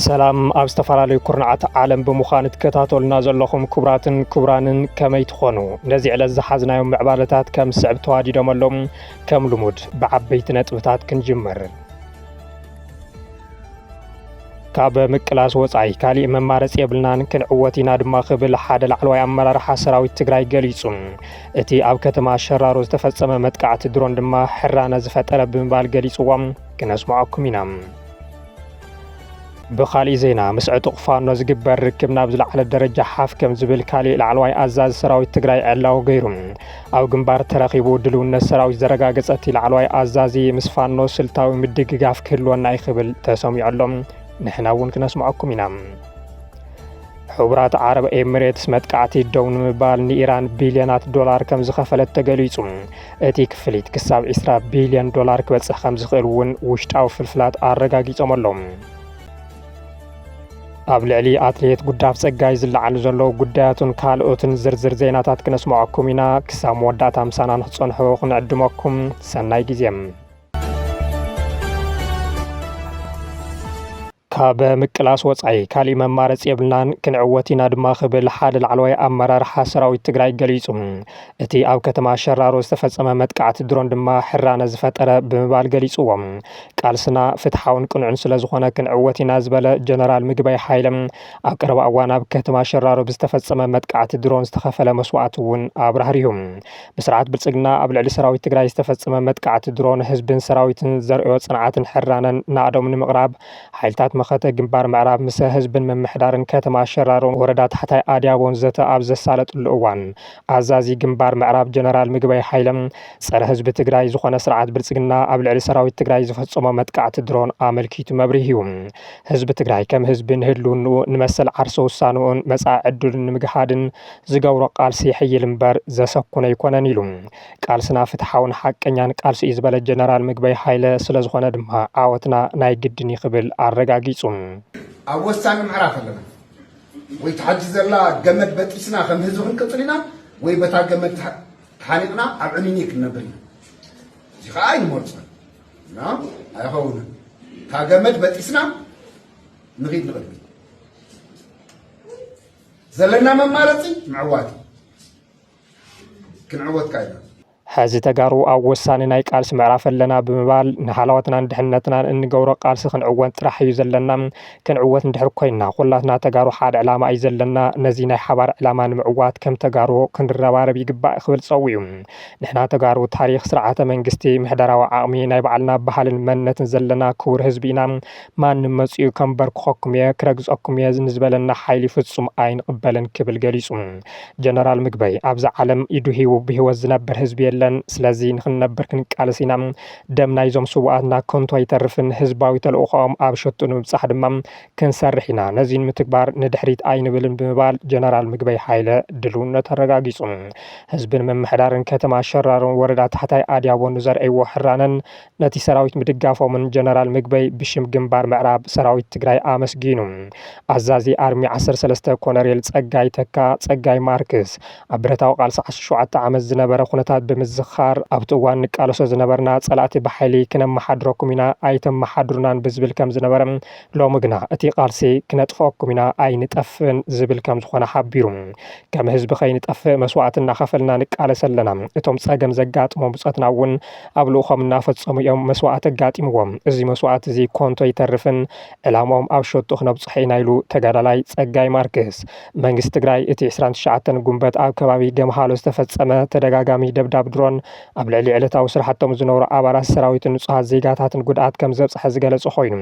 ሰላም ኣብ ዝተፈላለዩ ኩርናዓት ዓለም ብምዃን እትከታተሉና ዘለኹም ክቡራትን ክቡራንን ከመይ ትኾኑ ነዚ ዕለት ዝሓዝናዮም ምዕባለታት ከም ስዕብ ተዋዲዶመሎም ከም ልሙድ ብዓበይቲ ነጥብታት ክንጅምር ካብ ምቅላስ ወፃኢ ካሊእ መማረፂ የብልናን ክንዕወት ኢና ድማ ክብል ሓደ ላዕለዋይ ኣመራርሓ ሰራዊት ትግራይ ገሊፁ። እቲ ኣብ ከተማ ሸራሮ ዝተፈፀመ መጥቃዕቲ ድሮን ድማ ሕራነ ዝፈጠረ ብምባል ገሊፅዎም ክነስምዐኩም ኢና። ብካሊእ ዜና ምስ ዕጡቕ ፋኖ ዝግበር ርክብ ናብ ዝለዓለ ደረጃ ሓፍ ከም ዝብል ካሊእ ላዕለዋይ ኣዛዚ ሰራዊት ትግራይ ዕላዊ ገይሩ። ኣብ ግንባር ተረኺቡ ድልውነት ሰራዊት ዘረጋገፀ እቲ ላዕለዋይ ኣዛዚ ምስ ፋኖ ስልታዊ ምድግጋፍ ክህልወና እዩ ክብል ተሰሚዑ ኣሎ። ንሕና እውን ክነስምዐኩም ኢና። ሕቡራት ዓረብ ኤምሬትስ መጥቃዕቲ ደው ንምባል ንኢራን ቢልዮናት ዶላር ከም ዝኸፈለት ተገሊጹ እቲ ክፍሊት ክሳብ 20 ቢልዮን ዶላር ክበጽሕ ከም ዝኽእል እውን ውሽጣዊ ፍልፍላት ኣረጋጊጾም ኣለዉ ኣብ ልዕሊ ኣትሌት ጉዳፍ ጸጋይ ዝለዓሉ ዘለዉ ጉዳያቱን ካልኦትን ዝርዝር ዜናታት ክነስምዐኩም ኢና ክሳብ መወዳእታ ምሳና ንክትጸንሑ ክንዕድመኩም ሰናይ ግዜ ካብ ምቅላስ ወፃኢ ካሊእ መማረፂ የብልናን ክንዕወት ኢና ድማ ክብል ሓደ ላዕለዋይ ኣመራርሓ ሰራዊት ትግራይ ገሊፁ እቲ ኣብ ከተማ ሸራሮ ዝተፈጸመ መጥቃዕቲ ድሮን ድማ ሕራነ ዝፈጠረ ብምባል ገሊጽዎ። ቃልስና ፍትሓውን ቅኑዕን ስለ ዝኾነ ክንዕወት ኢና ዝበለ ጀነራል ምግበይ ሃይለ፣ ኣብ ቀረባ እዋን ኣብ ከተማ ሸራሮ ብዝተፈጸመ መጥቃዕቲ ድሮን ዝተኸፈለ መስዋእቲ እውን ኣብራህሪሁ። ብስርዓት ብልጽግና ኣብ ልዕሊ ሰራዊት ትግራይ ዝተፈጸመ መጥቃዕቲ ድሮን ህዝብን ሰራዊትን ዘርእዮ ጽንዓትን ሕራነን ናእዶም ንምቕራብ ሓይልታት መኸተ ግንባር ምዕራብ ምሰ ህዝብን ምምሕዳርን ከተማ ሸራሮን ወረዳ ታሕታይ ኣድያቦን ዘተ ኣብ ዘሳለጥሉ እዋን ኣዛዚ ግንባር ምዕራብ ጀነራል ምግበይ ሓይለ ፀረ ህዝቢ ትግራይ ዝኾነ ስርዓት ብልፅግና ኣብ ልዕሊ ሰራዊት ትግራይ ዝፈፀሞ መጥቃዕቲ ድሮን ኣመልኪቱ መብሪሁ። ህዝቢ ትግራይ ከም ህዝቢ ንህልውንኡ ንመሰል ዓርሰ ውሳንኡን መፃኢ ዕድሉን ንምግሃድን ዝገብሮ ቃልሲ የሕይል እምበር ዘሰኩን ኣይኮነን ኢሉ። ቃልስና ፍትሓውን ሓቀኛን ቃልሲ እዩ ዝበለ ጀነራል ምግበይ ሓይለ ስለዝኾነ ድማ ዓወትና ናይ ግድን እዩ ክብል ኣረጋጊፁ። ኣብ ወሳኒ ምዕራፍ ኣለና። ወይ ትሓጂ ዘላ ገመድ በጢስና ከም ህዝቢ ክንቅፅል ኢና ወይ በታ ገመድ ተሓኒቕና ኣብ ዕኒኒ ክንነብር ኢና እዚ ከዓ ኣይንመርፆን እና ኣይኸውንን እታ ገመድ በጢስና ንኺድ ንቕድሚት ዘለና መማረፂ ምዕዋት እዩ ክንዕወት ካይና ሐዚ ተጋሩ ኣብ ወሳኒ ናይ ቃልሲ ምዕራፍ ኣለና ብምባል ንሃላዋትናን ድሕነትናን እንገብሮ ቃልሲ ክንዕወት ጥራሕ እዩ ዘለና። ክንዕወት እንድሕር ኮይና ኩላትና ተጋሩ ሓደ ዕላማ እዩ ዘለና። ነዚ ናይ ሓባር ዕላማ ንምዕዋት ከም ተጋሩ ክንረባረብ ይግባእ ክብል ፀዊዑ። ንሕና ተጋሩ ታሪኽ፣ ስርዓተ መንግስቲ፣ ምሕደራዊ ዓቕሚ፣ ናይ ባዕልና ባህልን መንነትን ዘለና ክቡር ህዝቢ ኢና። ማንም መፂኡ ከንበርክኸኩም እየ፣ ክረግፀኩም እየ ንዝበለና ሓይሊ ፍፁም ኣይንቕበልን ክብል ገሊፁ። ጀነራል ምግበይ ኣብዛ ዓለም ኢዱ ሂቡ ብሂወት ዝነብር ህዝቢ የለን ስለዚ ንክንነብር ክንቃለስ ኢና ደም ናይዞም ስውኣትና ከንቱ ኣይተርፍን ህዝባዊ ተልእኾኦም ኣብ ሸትኡ ንምብፃሕ ድማ ክንሰርሕ ኢና ነዚ ንምትግባር ንድሕሪት ኣይንብልን ብምባል ጀነራል ምግበይ ሃይለ ድልውነቱ ኣረጋጊፁ ህዝብን ምምሕዳርን ከተማ ሸራሮን ወረዳ ታሕታይ ኣድያቦን ንዘርእይዎ ሕራነን ነቲ ሰራዊት ምድጋፎምን ጀነራል ምግበይ ብሽም ግንባር ምዕራብ ሰራዊት ትግራይ ኣመስጊኑ። ኣዛዚ ኣርሚ ዓሰርተ ሰለስተ ኮነሬል ፀጋይ ተካ፣ ፀጋይ ማርክስ፣ ኣብ ብረታዊ ቃልሲ ዓሰርተ ሸውዓተ ዓመት ዝነበረ ኩነታት ብምዝኻር፣ ኣብቲ እዋን ንቃለሶ ዝነበርና ፀላእቲ ብሓይሊ ክነመሓድረኩም ኢና ኣይተመሓድሩናን ብዝብል ከምዝነበረ ሎሚ ግና እቲ ቃልሲ ክነጥፈኣኩም ኢና ኣይንጠፍእን ዝብል ከምዝኾነ ሓቢሩ። ከም ህዝቢ ከይንጠፍእ መስዋእቲ እናኸፈልና ንቃለስ ኣለና። እቶም ፀገም ዘጋጥሞም ብፆትና እውን ኣብ ልኡኾም እናፈፀሙ እዮም መስዋእቲ ኣጋጢምዎም። እዚ መስዋእቲ እዚ ኮንቱ ኣይተርፍን፣ ዕላምኦም ኣብ ሸቶ ክነብፅሖ ኢና ኢሉ ተጋዳላይ ፀጋይ ማርክስ። መንግስቲ ትግራይ እቲ ዕስራን ትሽዓተን ጉንበት ኣብ ከባቢ ገምሃሎ ዝተፈፀመ ተደጋጋሚ ደብዳብ ድሮን ኣብ ልዕሊ ዕለታዊ ስራሕቶም ዝነበሩ ኣባላት ሰራዊትን ንፁሃት ዜጋታትን ጉድኣት ከምዘብፀሐ ዝገለፀ ኮይኑ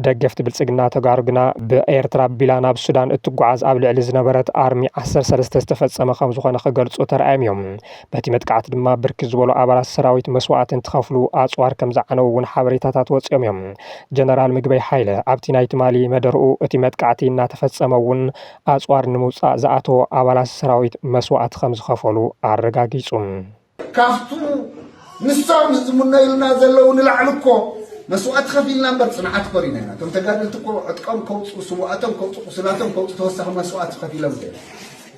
ደገፍቲ ብልፅግና ተጋሩ ግና ብኤርትራ ኣቢላ ናብ ሱዳን እትጓዓዝ ኣብ ልዕሊ ዝነበረት ኣርሚ ዓሰርተ ሰለስተ ዝተፈፀመ ከምዝኾነ ክገልፁ ተራእዮም እዮም። በቲ መጥቃዕቲ ድማ ብርክት ዝበሉ ኣባላት ሰራዊት መስዋእቲ እንትኸፍሉ ኣፅዋር ከም ዝዓነው እውን ሓበሬታታት ወፂኦም እዮም። ጀነራል ምግበይ ሓይለ ኣብቲ ናይ ትማሊ መደርኡ እቲ መጥቃዕቲ እናተፈፀመ እውን ኣፅዋር ንምውፃእ ዝኣተዎ ኣባላት ሰራዊት መስዋእቲ ከም ዝኸፈሉ ኣረጋጊፁ። ካብቱ ንሶም ዝምነዩልና ዘለው ንላዕሊ እኮ መስዋእቲ ከፊልና እምበር ፅንዓት ኮሪና ኢና። እቶም ተጋደልቲ እኮ ዕጥቆም ከውፅኡ፣ ስውኣቶም ከውፅኡ፣ ቁስላቶም ከውፅኡ ተወሳኺ መስዋእቲ ከፊሎም እዮም።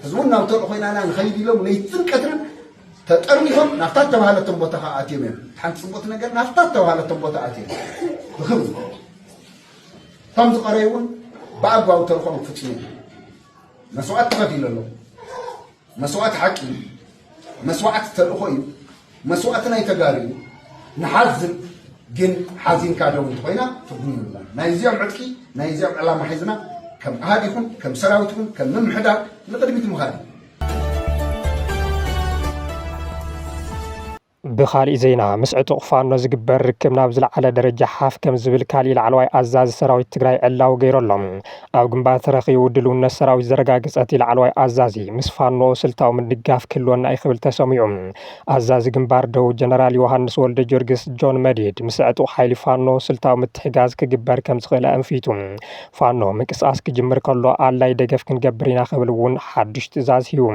ሕዚ እውን ናብ ተልእኾ ኢና ኢና ንኸይድ ኢሎም ለይትን ቀትርን ተጠርኒፎም ናብታ እተባህለቶም ቦታ ከዓ ኣትዮም እዮም። እቲ ሓንቲ ፅቡቕቲ ነገር ናብታ እተባህለቶም ቦታ ኣትዮም ብክብሪ እቶም ዝቐረዩ እውን ብኣግባቡ ተልእኾም ክፍፅሙ መስዋእቲ ተኸፊሉ ኣሎ። መስዋእቲ ሓቂ እዩ። መስዋዕቲ ተልእኾ እዩ መስዋእቲ ናይ ተጋሩ እዩ ንሓዝን ግን ሓዚንካ ደው እንተኾይና ትርጉም የብላን ናይ እዚኦም ዕጥቂ ናይ እዚኦም ዕላማ ሒዝና ከም ኣሃድ ይኹን ከም ሰራዊት ይኹን ከም ምምሕዳር ንቕድሚት ምኻድ እዩ ብኻሊእ ዜና ምስ ዕጡቕ ፋኖ ዝግበር ርክብ ናብ ዝለዓለ ደረጃ ሓፍ ከም ዝብል ካሊእ ላዕለዋይ ኣዛዚ ሰራዊት ትግራይ ዕላዊ ገይሩ ኣሎ። ኣብ ግንባር ተረኺቡ ድልውነት ሰራዊት ዘረጋገፀ እቲ ላዕለዋይ ኣዛዚ ምስ ፋኖ ስልታዊ ምድጋፍ ክህልወና እዩ ክብል ተሰሚዑ። ኣዛዚ ግንባር ደቡብ ጀነራል ዮሃንስ ወልደጊዮርጊስ፣ ጆን መዲድ፣ ምስ ዕጡቕ ሓይሊ ፋኖ ስልታዊ ምትሕጋዝ ክግበር ከም ዝኽእል ኣእንፊቱ። ፋኖ ምንቅስቓስ ክጅምር ከሎ ኣድላይ ደገፍ ክንገብር ኢና ክብል እውን ሓዱሽ ትእዛዝ ሂቡ።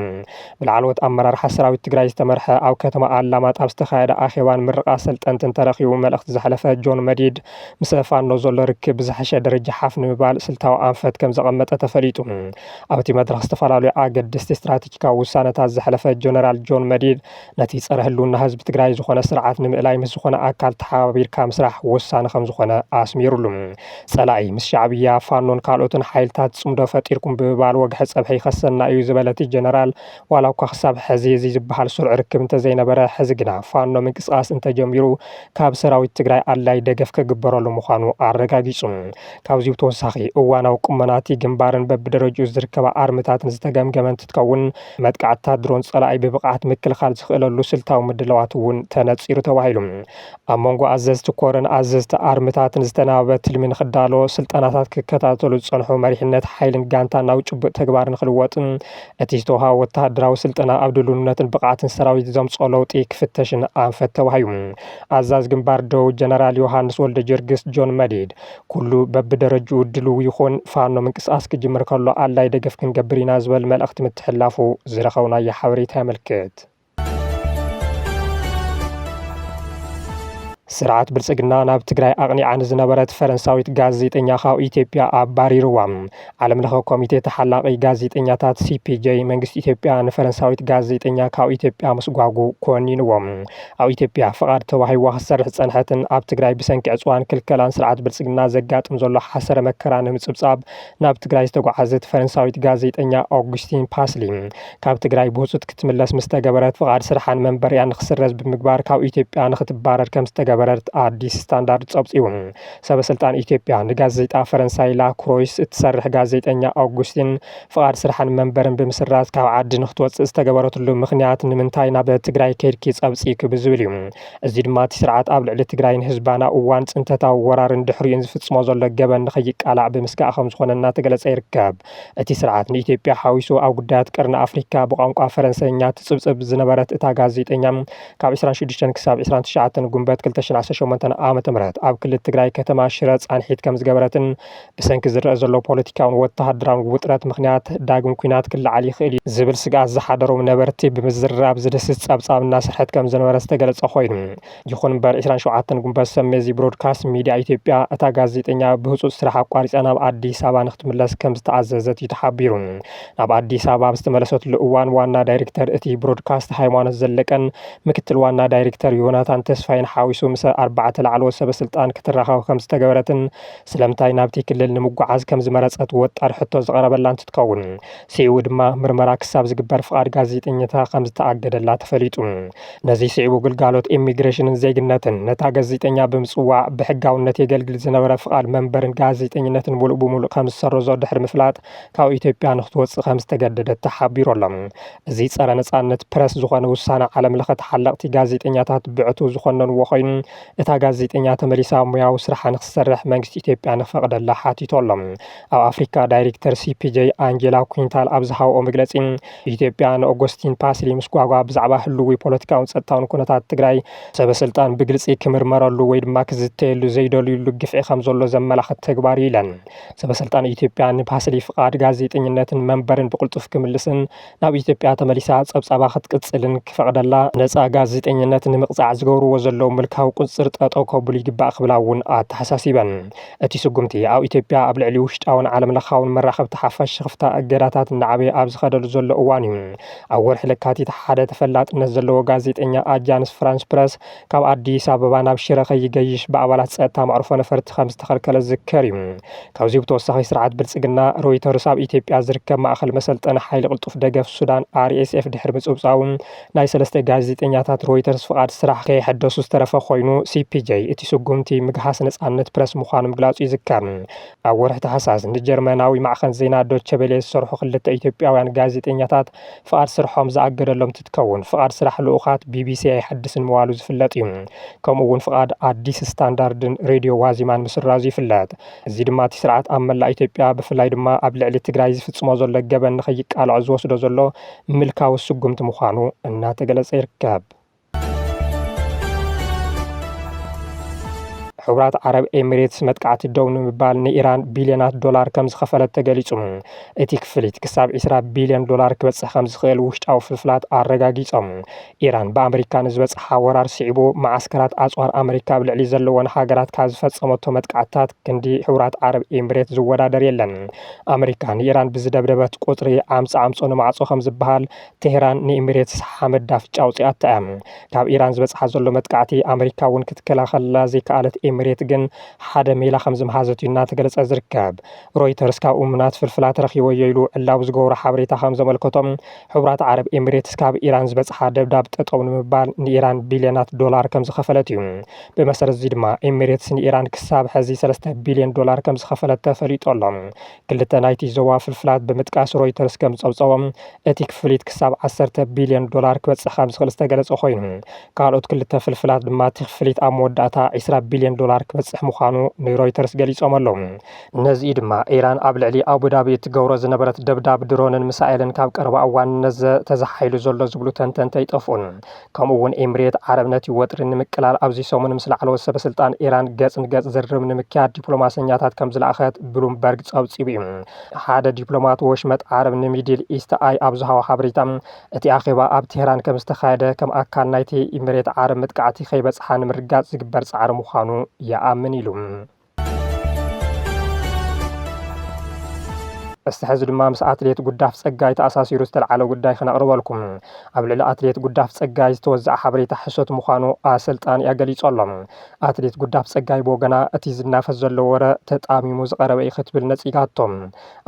ብላዕለዎት ኣመራርሓ ሰራዊት ትግራይ ዝተመርሐ ኣብ ከተማ ኣላማጣ ኣብ ዝተኻየደ ኣኼባ ንምርቓ ኣሰልጠንትን ተረኺቡ መልእኽቲ ዘሕለፈ ጆን መዲድ ምሰ ፋኖ ዘሎ ርክብ ብዝሐሸ ደረጃ ሓፍ ንምባል ስልታዊ ኣንፈት ከምዘቐመጠ ተፈሊጡ። ኣብቲ መድረኽ ዝተፈላለዩ ኣገደስቲ ስትራቴጂካዊ ውሳነታት ዘሕለፈ ጀነራል ጆን መዲድ ነቲ ፀረ ህልውና ህዝቢ ትግራይ ዝኾነ ስርዓት ንምእላይ ምስ ዝኾነ ኣካል ተሓባቢርካ ምስራሕ ወሳኒ ከምዝኾነ ኣስሚሩሉ። ፀላኢ ምስ ሻዕብያ፣ ፋኖን ካልኦትን ሓይልታት ፅምዶ ፈጢርኩም ብምባል ወግሐ ፀብሐ ይኸሰና እዩ ዝበለ እቲ ጀነራል፣ ዋላ እኳ ክሳብ ሐዚ እዙይ ዝብሃል ስሩዕ ርክብ እንተዘይነበረ ሐዚ ግና ፋኖ ምንቅስቓስ እንተጀሚሩ ካብ ሰራዊት ትግራይ ኣድላይ ደገፍ ክግበረሉ ምዃኑ ኣረጋጊፁ። ካብዚይ ብተወሳኺ እዋናዊ ቁመና እቲ ግንባርን በቢደረጅኡ ዝርከባ ኣርምታትን ዝተገምገመ እንትትከውን መጥቃዕትታት ድሮን ፀላኢ ብብቕዓት ምክልኻል ዝኽእለሉ ስልታዊ ምድላዋት እውን ተነፂሩ ተባሂሉ። ኣብ መንጎ ኣዘዝቲ ኮርን ኣዘዝቲ ኣርምታትን ዝተናበበ ትልሚ ንክዳሎ ስልጠናታት ክከታተሉ ዝፀንሑ መሪሕነት ሓይልን ጋንታን ናብ ጭቡጥ ተግባር ንክልወጥን እቲ ዝተውሃበ ወተሃደራዊ ስልጠና ኣብ ድልውነትን ብቕዓትን ሰራዊት ዘምፅኦ ለውጢ ክፍተሽን ኣንፈት ተባሂዩ። ኣዛዝ ግንባር ደቡብ ጀነራል ዮሃንስ ወልደጀርግስ ጆን መዲድ ኩሉ በብደረጅኡ ድልው ይኹን፣ ፋኖ ምንቅስቓስ ክጅምር ከሎ ኣድላይ ደገፍ ክንገብር ኢና ዝበል መልእኽቲ ምትሕላፉ ዝረኸብናዮ ሓበሬታ የመልክት። ስርዓት ብልፅግና ናብ ትግራይ ኣቕኒዓ ንዝነበረት ፈረንሳዊት ጋዜጠኛ ካብ ኢትዮጵያ ኣባሪርዋ። ዓለም ለኸ ኮሚቴ ተሓላቒ ጋዜጠኛታት ሲፒጄ መንግስቲ ኢትዮጵያ ንፈረንሳዊት ጋዜጠኛ ካብ ኢትዮጵያ ምስጓጉ ኮኒንዎ። ኣብ ኢትዮጵያ ፍቓድ ተዋሂዋ ክትሰርሕ ዝፀንሐትን ኣብ ትግራይ ብሰንኪ ዕፅዋን ክልከላን ስርዓት ብልፅግና ዘጋጥም ዘሎ ሓሰረ መከራ ንምፅብፃብ ናብ ትግራይ ዝተጓዓዘት ፈረንሳዊት ጋዜጠኛ ኦግስቲን ፓስሊ ካብ ትግራይ ብህፁፅ ክትምለስ ምስ ተገበረት ፍቓድ ስርሓን መንበሪኣን ንክስረዝ ብምግባር ካብ ኢትዮጵያ ንክትባረር ከም ዝተገበረት ኣዲስ ስታንዳርድ ፀብፂቡ። ሰበ ስልጣን ኢትዮጵያ ንጋዜጣ ፈረንሳይ ላ ክሮይስ እትሰርሕ ጋዜጠኛ ኣውጉስቲን ፍቓድ ስርሓን መንበርን ብምስራዝ ካብ ዓዲ ንክትወፅእ ዝተገበረትሉ ምኽንያት ንምንታይ ናብ ትግራይ ከይድኪ ፀብፂኪ ብዝብል እዩ። እዚ ድማ እቲ ስርዓት ኣብ ልዕሊ ትግራይን ህዝባን ኣብ እዋን ፅንተታዊ ወራርን ድሕሪኡን ዝፍፅሞ ዘሎ ገበን ንከይቃላዕ ብምስጋእ ከም ዝኾነ እናተገለፀ ይርከብ። እቲ ስርዓት ንኢትዮጵያ ሓዊሱ ኣብ ጉዳያት ቀርኒ ኣፍሪካ ብቋንቋ ፈረንሰይኛ ትፅብፅብ ዝነበረት እታ ጋዜጠኛ ካብ 26 ክሳብ 29 ጉንበት 2018 ዓ.ም ኣብ ክልል ትግራይ ከተማ ሽረ ፃንሒት ከም ዝገበረትን ብሰንኪ ዝረአ ዘሎ ፖለቲካውን ወተሃደራውን ውጥረት ምክንያት ዳግም ኩናት ክለዓል ይኽእል እዩ ዝብል ስግኣት ዝሓደሮም ነበርቲ ብምዝርራብ ዝድህስስ ፀብፃብ እናሰርሐት ከም ዝነበረ ዝተገለፀ ኮይኑ ይኹን እምበር ዕስራን ሸውዓተን ጉንበት ሰሜ እዚ ብሮድካስት ሚድያ ኢትዮጵያ እታ ጋዜጠኛ ብህፁፅ ስራሕ ኣቋሪፃ ናብ ኣዲስ ኣበባ ንክትምለስ ከምዝተኣዘዘት እዩ ተሓቢሩ። ናብ ኣዲስ ኣበባ ኣብ ዝተመለሰትሉ እዋን ዋና ዳይሬክተር እቲ ብሮድካስት ሃይማኖት ዘለቀን ምክትል ዋና ዳይሬክተር ዮናታን ተስፋይን ሓዊሱ ምሰ ኣርባዕተ ላዕለዎት ሰበስልጣን ክትራኸብ ከምዝተገበረትን ስለምንታይ ናብቲ ክልል ንምጉዓዝ ከምዝመረፀት ወጣሪ ሕቶ ዝቐረበላ እንትትከውን ስዒቡ ድማ ምርመራ ክሳብ ዝግበር ፍቓድ ጋዜጠኝነታ ከምዝተኣገደላ ተፈሊጡ። ነዚ ስዒቡ ግልጋሎት ኢሚግሬሽንን ዜግነትን ነታ ገዚጠኛ ብምጽዋዕ ብሕጋውነት የገልግል ዝነበረ ፍቓድ መንበርን ጋዜጠኝነትን ሙሉእ ብሙሉእ ከም ዝሰረዞ ድሕሪ ምፍላጥ ካብ ኢትዮጵያ ንክትወጽእ ከም ዝተገደደት ተሓቢሩ ኣሎ። እዚ ጸረ ነጻነት ፕረስ ዝኾነ ውሳነ ዓለም ለኸ ተሓለቕቲ ጋዜጠኛታት ብዕቱብ ዝኾነንዎ ኮይኑ እታ ጋዜጠኛ ተመሊሳ ሙያዊ ስርሓ ንክትሰርሕ መንግስቲ ኢትዮጵያ ንክፈቕደላ ሓቲቱ ኣሎ። ኣብ ኣፍሪካ ዳይሪክተር ሲፒጀይ ኣንጀላ ኩንታል ኣብ ዝሃብኦ መግለጺ ኢትዮጵያ ንኦጎስቲን ፓስሊ ምስጓጓ ብዛዕባ ህልዊ ፖለቲካውን ጸጥታውን ኩነታት ትግራይ ሰበ ስልጣን ብግልጺ ክምርመረሉ ወይ ድማ ክዝተየሉ ዘይደልዩሉ ግፍዒ ከም ዘሎ ዘመላኽት ተግባር እዩ ኢለን። ሰበ ስልጣን ኢትዮጵያ ንፓስሊ ፍቓድ ጋዜጠኝነትን መንበርን ብቕልጡፍ ክምልስን ናብ ኢትዮጵያ ተመሊሳ ጸብጻባ ክትቅጽልን ክፈቕደላ፣ ነጻ ጋዜጠኝነት ንምቕጻዕ ዝገብርዎ ዘለዉ ምልካዊ ቁጽጽር ጠጠው ከብሉ ይግባእ ክብላ እውን ኣተሓሳሲበን። እቲ ስጉምቲ፣ ኣብ ኢትዮጵያ ኣብ ልዕሊ ውሽጣውን ዓለም ለኻውን መራኸብቲ ሓፋሽ ሽኽፍታ እገዳታት እናዓበየ ኣብ ዝኸደሉ ዘሎ እዋን እዩ። ኣብ ወርሒ ለካቲት ሓደ ተፈላጥነት ዘለዎ ጋዜጠኛ ኣጃንስ ፍራንስ ፕረስ ካብ ኣዲስ ኣበባ ናብ ሽረ ከይገይሽ ብኣባላት ጸጥታ መዕርፎ ነፈርቲ ከም ዝተኸልከለ ዝዝከር እዩ። ካብዚ ብተወሳኺ ስርዓት ብልጽግና፣ ሮይተርስ ኣብ ኢትዮጵያ ዝርከብ ማእከል መሰልጠኒ ሓይሊ ቅልጡፍ ደገፍ ሱዳን፣ RSF፣ ድሕሪ ምጽብጻቡ፣ ናይ ሰለስተ ጋዜጠኛታት ሮይተርስ ፍቓድ ስራሕ ከየሐደሱ ዝተረፈ ኮይኑ፣ ሲፒጀይ እቲ ስጉምቲ ምግሃስ ነጻነት ፕረስ ምዃኑ ምግላጹ ይዝከር። ኣብ ወርሒ ታሕሳስ ንጀርመናዊ ማዕኸን ዜና ዶቸ ቬለ ዝሰርሑ ክልተ ኢትዮጵያውያን ጋዜጠኛታት ፍቓድ ስርሖም ዝኣገደሎም እንትትከውን፣ ፍቓድ ስራሕ ልኡኻት ቢቢሲ ኣይሐድስን ምባሉ ዝፍለጥ እዩ። ከምኡ'ውን ፍቓድ ኣዲስ ስታንዳርድን ሬድዮ ዋዜማን ምስራዙ ይፍለጥ። እዚ ድማ እቲ ስርዓት ኣብ መላእ ኢትዮጵያ ብፍላይ ድማ ኣብ ልዕሊ ትግራይ ዝፍጽሞ ዘሎ ገበን ንከይቃልዖ ዝወስዶ ዘሎ ምልካዊ ስጉምቲ ምዃኑ እናተገለጸ ይርከብ። ሕቡራት ዓረብ ኤሚሬትስ መጥቃዕቲ ደው ንምባል ንኢራን ቢልዮናት ዶላር ከም ዝኸፈለት ተገሊጹ። እቲ ክፍሊት ክሳብ 20 ቢልዮን ዶላር ክበጽሕ ከም ዝኽእል ውሽጣዊ ፍልፍላት ኣረጋጊጾም። ኢራን ብኣመሪካ ንዝበጽሓ ወራር ስዒቡ መዓስከራት ኣጽዋር ኣመሪካ ኣብ ልዕሊ ዘለወን ሃገራት ካብ ዝፈጸመቶ መጥቃዕትታት ክንዲ ሕቡራት ዓረብ ኤምሬት ዝወዳደር የለን። ኣመሪካ ንኢራን ብዝደብደበት ቁጽሪ ዓምጽ ዓምጾ ንማዕጾ ከም ዝበሃል ቴህራን ንኤምሬትስ ሓመድ ዳፍጫ ኣውጺኣታ እያ። ካብ ኢራን ዝበጽሓ ዘሎ መጥቃዕቲ ኣመሪካ እውን ክትከላኸለላ ዘይከኣለት ኤምሬት ግን ሓደ ሜላ ከም ዝምሃዘት እዩ እናተገለጸ ዝርከብ። ሮይተርስ ካብ እሙናት ፍልፍላት ረኺበዮ ኢሉ ዕላዊ ዝገበሮ ሓበሬታ ከም ዘመልከቶ፣ ሕቡራት ዓረብ ኤሚሬትስ ካብ ኢራን ዝበጽሓ ደብዳብ ጠጠው ንምባል ንኢራን ቢልዮናት ዶላር ከም ዝኸፈለት እዩ። ብመሰረት እዚ ድማ ኤሚሬትስ ንኢራን ክሳብ ሕዚ ሰለስተ ቢልዮን ዶላር ከም ዝኸፈለት ተፈሊጡ ኣሎ። ክልተ ናይቲ ዞባ ፍልፍላት ብምጥቃስ ሮይተርስ ከም ዝጸብጸቦ፣ እቲ ክፍሊት ክሳብ ዓሰርተ ቢልዮን ዶላር ክበጽሕ ከም ዝኽእል ዝተገለጸ ኮይኑ፣ ካልኦት ክልተ ፍልፍላት ድማ እቲ ክፍሊት ኣብ መወዳእታ ዒስራ ቢልዮን ዶላር ክበጽሕ ምዃኑ ንሮይተርስ ገሊጾም ኣለዉ። ነዚ ድማ ኢራን ኣብ ልዕሊ ኣቡዳቢ እትገብሮ ዝነበረት ደብዳብ ድሮንን ምሳኤልን ካብ ቀረባ እዋን ነዘ ተዘሓሒሉ ዘሎ ዝብሉ ተንተንቲ ኣይጠፍኡን። ከምኡ እውን ኤምሬት ዓረብ ነቲ ወጥሪ ንምቅላል ኣብዚ ሰሙን ምስ ላዕለዎት ሰበስልጣን ኢራን ገጽ ንገጽ ዝርርብ ንምክያድ ዲፕሎማሰኛታት ከም ዝለኣኸት ብሉምበርግ ጸብጺቡ እዩ። ሓደ ዲፕሎማት ወሽመጥ ዓረብ ንሚድል ኢስት ኣይ ኣብ ዝሃቦ ሓበሬታ እቲ ኣኼባ ኣብ ቴህራን ከም ዝተኻየደ ከም ኣካል ናይቲ ኢምሬት ዓረብ መጥቃዕቲ ከይበጽሓ ንምርግጋጽ ዝግበር ጻዕሪ ምዃኑ ይኣምን ኢሉ። እስቲ ሕዚ ድማ ምስ ኣትሌት ጉዳፍ ጸጋይ ተኣሳሲሩ ዝተልዓለ ጉዳይ ክነቕርበልኩም። ኣብ ልዕሊ ኣትሌት ጉዳፍ ጸጋይ ዝተወዘዐ ሓበሬታ ሕሶት ምዃኑ ኣሰልጣኒኣ ገሊጹ ኣሎ። ኣትሌት ጉዳፍ ጸጋይ ብወገና እቲ ዝናፈስ ዘሎ ወረ ተጣሚሙ ዝቐረበ እዩ ክትብል ነጺጋቶ።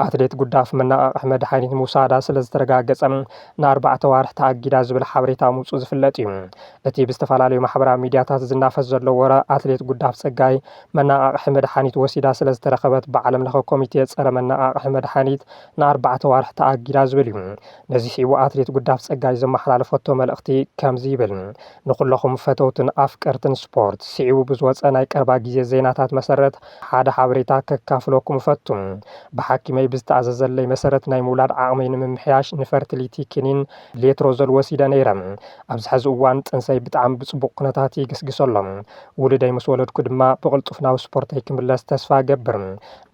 ኣትሌት ጉዳፍ መነቓቕሒ መድሓኒት ምውሳዳ ስለ ዝተረጋገጸ ንኣርባዕተ ኣዋርሕ ተኣጊዳ ዝብል ሓበሬታ ምውጽኡ ዝፍለጥ እዩ። እቲ ብዝተፈላለዩ ማሕበራዊ ሚድያታት ዝናፈስ ዘሎ ወረ ኣትሌት ጉዳፍ ፀጋይ መነቓቕሒ መድሓኒት ወሲዳ ስለዝተረኸበት ብዓለምለኸ ኮሚቴ ፀረ መነቓቕሒ መድሓኒት ንኣርባዕተ ኣዋርሕ ተኣጊዳ ዝብል እዩ። ነዚ ስዒቡ ኣትሌት ጉዳፍ ፀጋይ ዘመሓላለፈቶ መልእኽቲ ከምዚ ይብል ንኹለኹም ፈተውትን ኣፍቀርትን ስፖርት ስዒቡ ብዝወፀ ናይ ቀረባ ግዜ ዜናታት መሰረት ሓደ ሓበሬታ ከካፍለኩም እፈቱ። ብሓኪመይ ብዝተኣዘዘለይ መሰረት ናይ ምውላድ ዓቕመይ ንምምሕያሽ ንፈርትሊቲ ክኒን ሌትሮዞል ወሲደ ነይረ። ኣብዚ ሕዚ እዋን ጥንሰይ ብጣዕሚ ብፅቡቕ ኩነታት ይግስግስ ኣሎ። ውሉደይ ምስ ወለድኩ ድማ ብቕልጡፍ ናብ ስፖርተይ ክምለስ ተስፋ እገብር።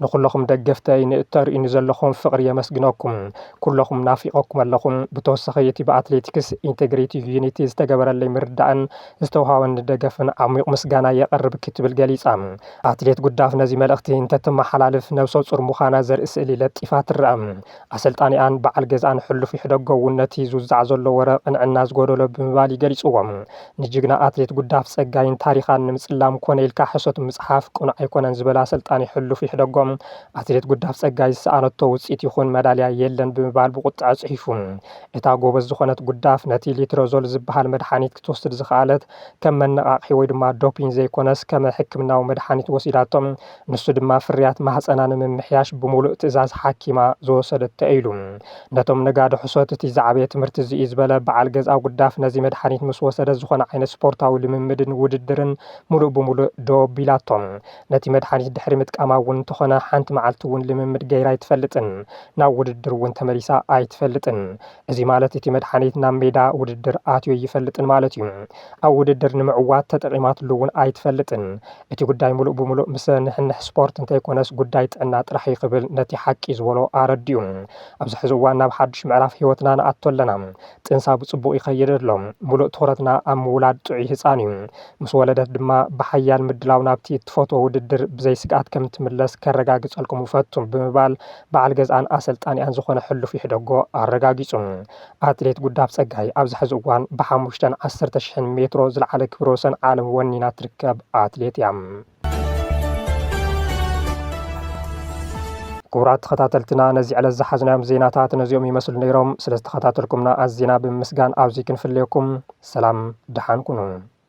ንኹለኹም ደገፍተይ ንእተርእዩኒ ዘለኹም ፍቕሪ የመስግነኩም። ኩለኹም ናፊቐኩም ኣለኹ። ብተወሳኺ እቲ ብኣትሌቲክስ ኢንቴግሬቲቭ ዩኒቲ ዝተገበረለይ ምርዳእን ዝተውሃበኒ ደገፍን ዓሚቕ ምስጋና የቕርብ ክትብል ገሊፃ። ኣትሌት ጉዳፍ ነዚ መልእኽቲ እንተተመሓላልፍ ነብሰፁር ምዃና ዘርኢ ስእሊ ለጢፋ ትረኣ። ኣሰልጣኒኣን በዓል ገዝኣን ሕሉፍ ይሕደጎ እውን ነቲ ዝውዛዕ ዘሎ ወረ ቅንዕና ዝጎደሎ ብምባል እዩ ገሊጽዎ። ንጅግና ኣትሌት ጉዳፍ ጸጋይን ታሪኻን ንምጽላም ኮነ ኢልካ ሕሶት ምጽሓፍ ቅኑዕ ኣይኮነን ዝበለ ኣሰልጣኒ ሕሉፍ ይሕደጎ፣ ኣትሌት ጉዳፍ ጸጋይ ዝሰኣነቶ ውጽኢት ይኹን መዳልያ የለን ብምባል ብቁጥዐ ጽሒፉ። እታ ጎበዝ ዝኾነት ጉዳፍ ነቲ ሊትረዞል ዝበሃል መድሓኒት ክትወስድ ዝኸኣለት ከም መነቓቕሒ ወይ ድማ ዶፒን ዘይኮነስ ከመ ሕክምናዊ መድሓኒት ወሲዳቶ። ንሱ ድማ ፍርያት ማህጸና ንምምሕያሽ ብምሉእ ትእዛዝ ሓኪማ ዝወሰደቶ እዩ ኢሉ። ነቶም ነጋዶ ሕሶት እቲ ዝዓበየ ትምህርቲ እዚ እዩ ዝበለ በዓል ገዝኣ ጉዳፍ ነዚ መድሓኒት ምስ ወሰደት ዝኾነ ዓይነት ስፖርታዊ ልምምድን ውድድርን ምሉእ ብምሉእ ደው ኣቢላቶ። ነቲ መድሓኒት ድሕሪ ምጥቃማ እውን እንተኾነ ሓንቲ መዓልቲ እውን ልምምድ ገይራ ኣይትፈልጥን። ናብ ውድድር እውን ተመሊሳ ኣይትፈልጥን። እዚ ማለት እቲ መድሓኒት ናብ ሜዳ ውድድር ኣትዮ ኣይፈልጥን ማለት እዩ። ኣብ ውድድር ንምዕዋት ተጠቒማትሉ እውን ኣይትፈልጥን። እቲ ጉዳይ ምሉእ ብምሉእ ምስ ንሕንሕ ስፖርት እንተይኮነስ ጉዳይ ጥዕና ጥራሕ እዩ ክብል ነቲ ሓቂ ዝበሎ ኣረዲኡ። ኣብዚ ሕዚ እዋን ናብ ሓዱሽ ምዕራፍ ህይወትና ንኣቱ ኣለና። ጥንሳ ብፅቡቕ ይኸይድ ኣሎ። ምሉእ ትኹረትና ኣብ ምውላድ ጥዑይ ህፃን እዩ። ምስ ወለደት ድማ ብሓያል ምድላው ናብቲ እትፈትዎ ውድድር ብዘይ ስግኣት ከምትምለስ ከረጋግፀልኩም እፈቱ ብምባል በዓል ገዝኣን ኣሰልጣኒኣን ዝኾነ ሕሉፍ ይሕደጎ ኣረጋጊፁ። ኣትሌት ጉዳፍ ፀጋይ ኣብዚ ሕዚ እዋን ብሓሙሽተን ዓሰርተ ሽሕን ሜትሮ ዝለዓለ ክብረ ወሰን ዓለም ወኒና ትርከብ ኣትሌት እያ። ክቡራት ተኸታተልትና ነዚ ዕለት ዝሓዝናዮም ዜናታት ነዚኦም ይመስሉ ነይሮም። ስለ ዝተኸታተልኩምና ኣዚና ብምምስጋን ኣብዚ ክንፍለየኩም ሰላም ድሓን ኩኑ።